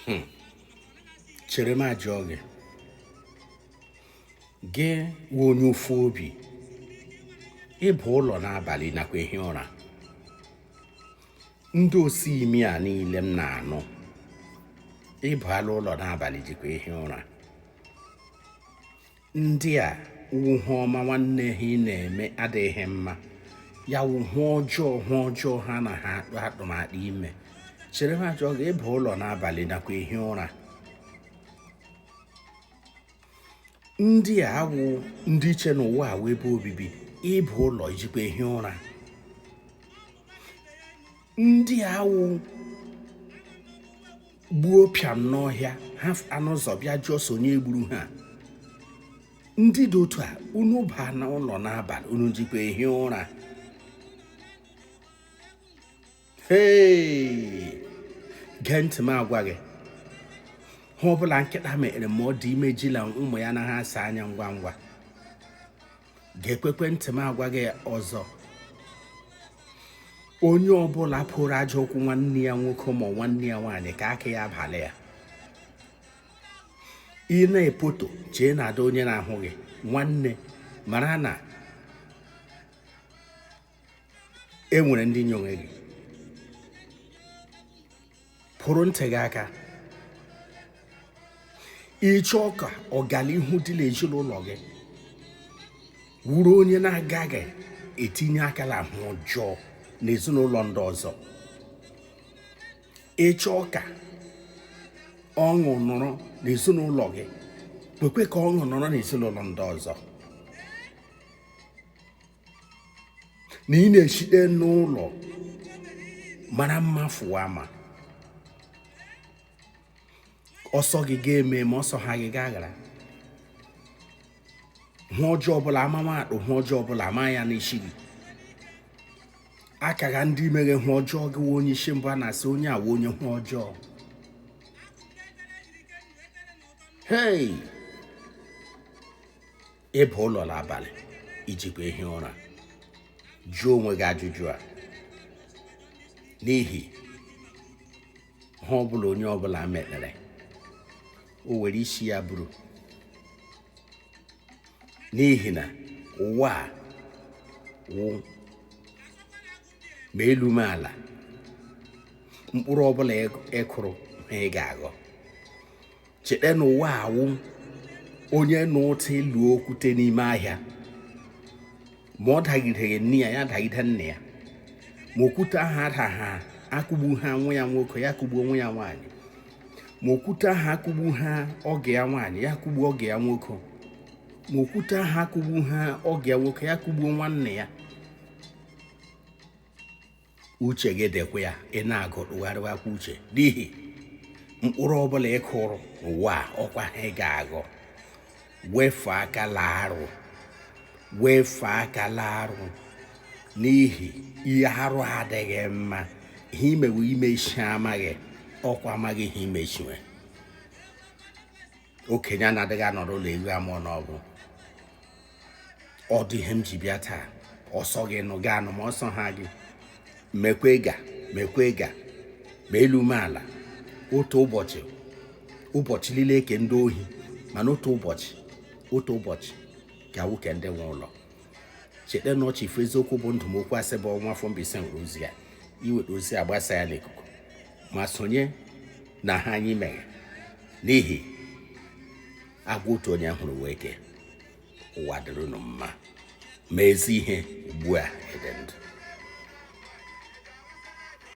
hmm. chere m ajụọ gị gị wụ onye ụfụ obi ị baa ụlọ n'abalị nakwa ehi ụra ndị osi imi a niile m na-anụ ị baa la ụlọ n'abalị jikwa ehi ụra ndị a wụ ihe ọma nwanne ha ị na-eme adịghị mma ya wụ ihe ọjọọ ihe ọjọọ ha na ha akpa atụmatụ ime chere m ajụọ gị ị baa ụlọ n'abalị nakwa ehi ụra ndị a wụ ndị eche na ụwa a wụ ebe obibi ị baa ụlọ i jikwa ehi ụra ndị a wụ gbuo pịam n'ọhịa ha apụ n'ụzọ bịa jụọ sị onye gburu ha ndị dị otu a unu baa na ụlọ n'abalị unu jikwa ehi ụra hei gee ntị m agwa gị ihe ọbụla nkịta mere ma ọ dị ime jila ụmụ ya anaha asa anya ngwa ngwa geekwekwe ntị m agwa gị ọzọ onye ọbụla kporo aja ụkwụ nwanne ya nwoke ma nwanne ya nwaanyị ka aka ya bala ya ị na-epoto chee na adịghị onye na-ahụ gị nwanne mara na e nwere ndị nyowe gị kpụrụ ntị gị aka ị chọọ ka ọganihu dị n'ezinụlọ gị wuru onye na-agaghị etinye aka n'ihe ọjọọ n'ezinụlọ ndị ọzọ ị chọọ ka ọṅụ nọrọ n'ezinụlọ gị kwekwe ka ọṅụ nọrọ n'ezinụlọ ndị ọzọ na ị na-esite n'ụlọ mara mma fụwa ama ọsọ gị ga-eme ma ọsọ ha gị gaghara ihe ọjọọ ọbụla a mawa akpụ ihe ọjọọ ọbụla a ma ya n'isi gị a kagha ndị meghe ihe ọjọọ gị wụ onye isi mbụ a na-asị onye a wụ onye ihe ọjọọ hei ị baa ụlọ n'abalị i jikwa ehi ụra jụọ onwe gị ajụjụ a n'ihi ihe ọbụla onye ọbụla mekpere o were isi ya buru n'ihi na ụwa a wụ ma elu ma ala mkpụrụ ọbụla ị kụrụ ha ị ga-aghọ cheta na ụwa awụ onye nụ ụtọ ịlụ okwute n'ime ahịa ma ọ dagideghị nne ya ya dagide nna ya ma okwute ahụ adaha akụgbuha nwa ya nwoke ya kụgbuo nwa ya nwaanyị ma okwute ahụ akụgbuha ọgọ ya nwaanyị ya kụgbuo ọgọ ya nwoke ma okwute ahụ akụgbuha ọgọ ya nwoke ya kụgbuo nwanne ya uche gị dịkwa ya ị na-agụ tụgharịwakwa uche n'ihi mkpụrụ ọbụla ị kụrụ n'ụwa a, ọkwa ha ị ga-aghọ wefụ aka la arụ wefụ aka la arụ n'ihi ihe arụ adịghị mma ihe i mewe imechi ama gị ọkwa ama gị ha i mechiwe okenye anadịghị anọrọ ụlọ ewu amụọ n'ọgbụ ọ dị ihe m ji bịa taa ọ sọ gị nụ gị anụ ma ọ sọha gị mekwe ga mekwe ga ma elu ma ala otu ụbọchị ụbọchị niile ke ndị ohi mana otu ụbọchị otu ụbọchị ga-awụ ke ndị nwe ụlọ cheta na ọchị ife eziokwu bụ ndụ ma okwu asị bụ ọnwụ afọ Mbaise were ozi a i weta ozi a gbasaa ya n'ikuku ma sonye na ihe anyị meghe n'ihi agwọ otu onye hụrụ wụ eke ụwa dịrị ụnụ mma ma ezi ihe ugbu a ede ndụ